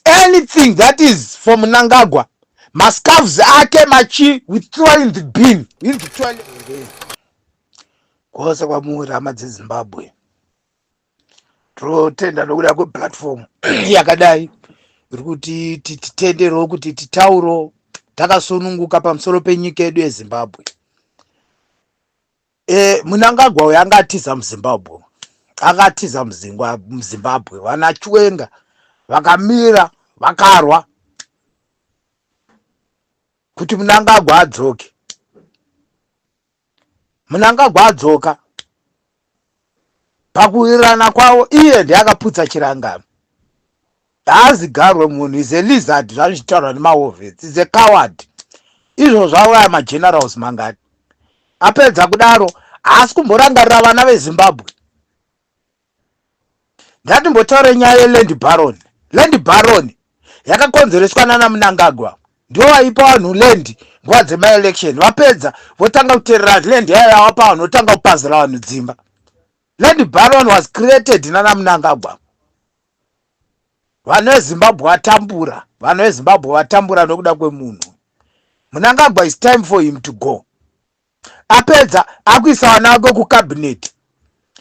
anything that is for munangagwa mascarves ake machi we throw in the bin in the toilet kwose kwamuri hama dzezimbabwe tinotenda nokuda kweplatform yakadai iri kuti titenderewo kuti titauro takasununguka pamusoro penyika yedu yezimbabwe Eh, Munangagwa uyu anga atiza muZimbabwe uyu. anga atiza muzingwa muzimbabwe vana chiwenga vakamira vakarwa kuti munangagwa adzoke munangagwa adzoka pakuwirirana kwavo iye ndiye akaputsa chirangano Haazigarwe munhu is a lizard zvazvichitaurwa nemaovets is a coward izvo zvauraya magenerals mangani apedza kudaro haasi kumborangarira vana vezimbabwe ndatimbotaure nyaya yeland baron land baron yakakonzereswa nana munangagwa ndivo vaipa vanhu land nguva dzemaelection vapedza votanga kuterera land yayo yavapa vanhu votanga kupazira vanhu dzimba land baron was created nana munangagwa Vanhu veZimbabwe vatambura, vanhu veZimbabwe vatambura nokuda kwemunhu. Munangagwa is time for him to go. Apedza akuisa vana vake kucabinet.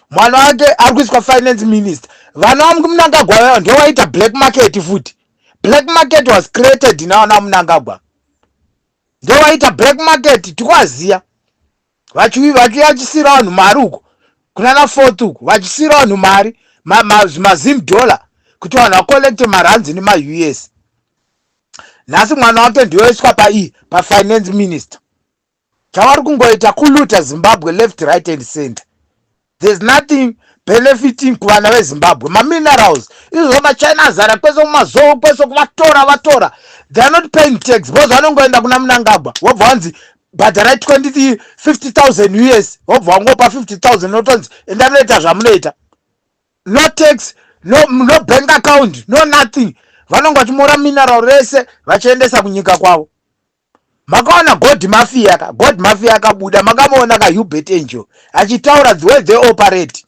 Mwana wake ari kuiswa finance minister. Vana vamunangagwa vaya ndivo vaita black market futi. Black market was created navana vamunangagwa. Ndivo vaita black market tikwaziya. vachiuyi vachiyachisira vanhu mari uko kunana fourth uko vachisira vanhu mari mazim ma, dollar kuti vanhu vacollecte maranzi nemaus nhasi mwana wake ndiyoiswa paii pafinance minister chavari kungoita kuluta zimbabwe left right and center there's nothing benefiting kuvana vezimbabwe maminerals izvo machina azara kwese kumazowo kwese kuvatora vatora they are not paying tax because vanongoenda kuna munangagwa wobva wanzi bhadharai 20 50000 us wobva wangopa 50000 notonzi enda munoita zvamunoita no tax no, no bank account no nothing vanonge vachimora mineral rese vachiendesa kunyika kwavo makaona god mafia ka god mafia akabuda makamuona ka hubert angel achitaura the way they operate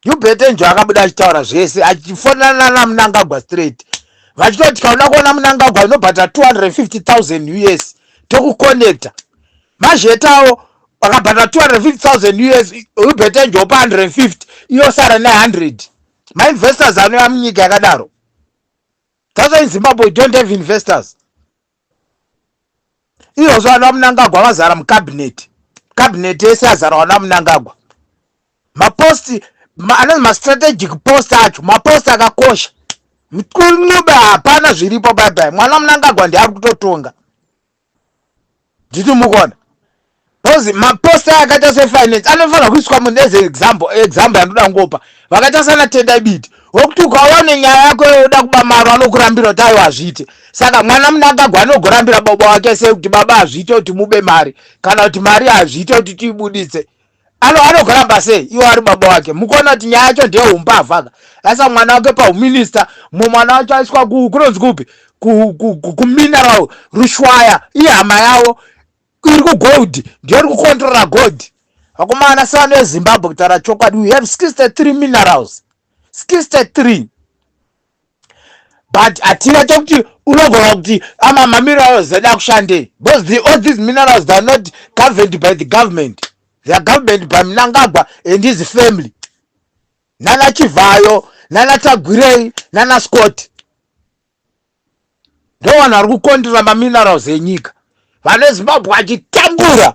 hubert angel akabuda achitaura zvese achifonana namunangagwa straight vachitoti tikaona kuona munangagwa inobhata 250000 us tokuconnecta mazhetawo akabhata 250000 us hubert angel opa 150 iyosara ne 100 mainvestors anoya munyika yakadaro That's why in Zimbabwe we don't have investors. Iyozvo ana Mnangagwa vazara mucabinet. Cabinet yese yazara ana Mnangagwa. Mapost ma, anonzi mastrategic post acho mapost akakosha. Mkunube hapana zviripo bye bye. Mwana Mnangagwa ndiye ari kutotonga. diti mukona because maposta akaita sefinance anofanira kuiswa munhu as example example yandoda kungopa vakaita sana tendai biti wekuti ukaona nenyaya yako yoda kuba maro anokurambira kuti aiwa hazviite saka mwana munangagwa anogorambira baba wake sei kuti baba hazviite kuti mube mari kana kuti mari hazviite kuti tiibuditse ano anogoramba sei iwo ari baba wake mukuona kuti nyaya yacho ndeye umbavhaka aisa mwana wake pauminista mumwe mwana wacho aiswa kunonzi kupi kumineral rushwaya ihama yavo iri kugold ndiyo iri kukontrola gold vakomana sevano vezimbabwe kutaura chokwadi we have 63 minerals 63 but hatina chokuti unogona kuti amaminerals ah, ada kushandei because the, all these minerals theyare not governed by the government theyare government by mnangagwa and his family nana chivhayo nana tagwirei nana scott ndo vanhu vari kukondera maminerals enyika vane zimbabwe achitambura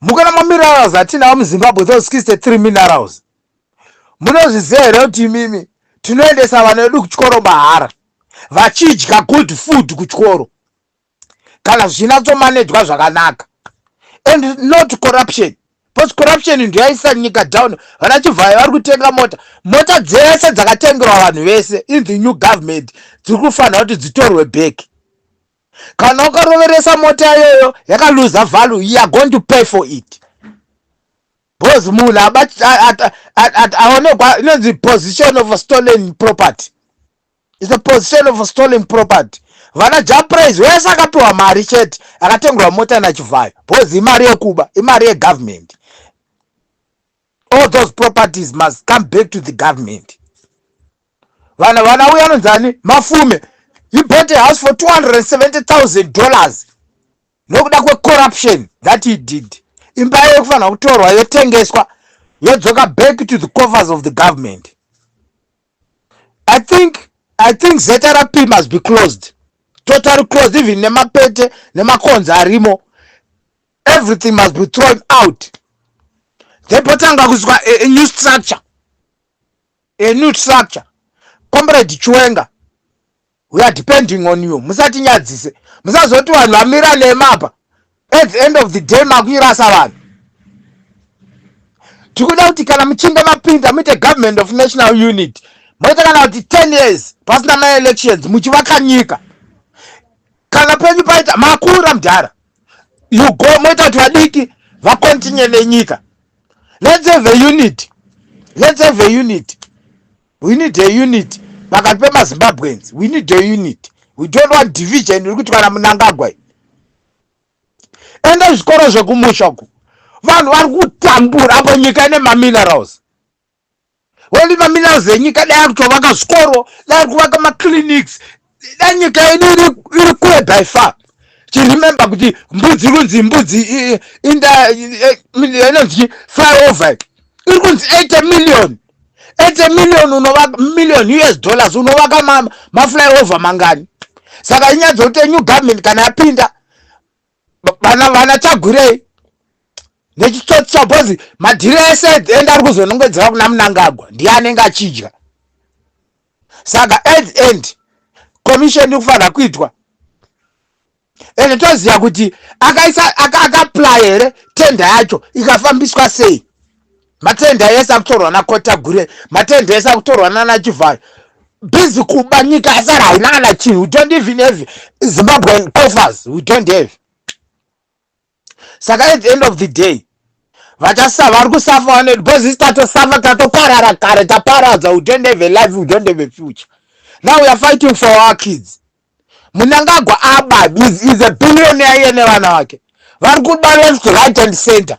Mukana mamirals atinawo muzimbabwe those 63 minerals munozviziva here kuti imimi tinoendesa vana vedu kuchikoro mahara vachidya good food kuchikoro kana zvichinatsomanejwa zvakanaka and not corruption bcause corruption ndoyaisa nyika down vana chivhayo vari kutenga mota mota dzese dzakatengerwa vanhu vese in the new government dziri kufanira kuti dzitorwe back Kana ukaroveresa mota iyoyo yakaluza value you are going to pay for it because munhu aonekwa inonzi position of a stolen property is a position of a stolen property vana japraise wese akapiwa mari chete akatengwa mota nachivhayo because imari yekuba imari yegovernment all those properties must come back to the government vana vana uya anonzani mafume he bought a house for 270000 dollars nokuda kwecorruption that he did imba yayo kufanira kutorwa yotengeswa yodzoka back to the coffers of the government i think i think zrp must be closed totally closed even nemapete nemakonzi arimo everything must be thrown out then potanga kuzwa a, a new structure a new structure comrade chiwenga we are depending on you musatinyadzise musazoti vanhu vamira nemapa at the end of the day makuirasa vanhu tikuda kuti kana muchinge mapinda muite government of national unit moita kana kuti 10 years pasina maelections muchivaka nyika kana penyu paita makura mudhara you go moita kuti vadiki vacontinue nenyika let's have a unit let's have a unit we need a unit pakati pemazimbabweans we need a unit we don't want division iri kuitwa namunangagwa i enda zvikoro zvekumusha ku vanhu vari kutambura apo nyika ine maminerals Honi maminerals enyika dai akutovaka zvikoro, dai kuvaka maclinics, dai nyika yedu iri kure by far. Chiremember kuti mbudzi kunzi mbudzi inonzi flyover iri kunzi 80 million 80 million unovaka million us dollars unovaka maflyover mangani saka inyaya dzokuti new government kana yapinda vana vana tagwirei nechitsotsi chabhozi madhiri ese ende ari kuzonongedzera kuna munangagwa ndiye anenge achidya saka at the end commission ikufanira kuitwa ende toziva kuti akaisa akaplaya here tenda yacho ikafambiswa sei matende ese akutorwa nakotagure matende ese akutorwa nana chivhayo busy kuba nyika yasara haina kana chinhu we don't even have zimbabwean coffers we don't have saka at the end of the day vachasava vari kusafa vane because isi tatosafa tatoparara kare taparadza we don't have a life we don't have a future now we are fighting for our kids munangagwa aba is, is a billionaire yene vana vake vari kuba left right and center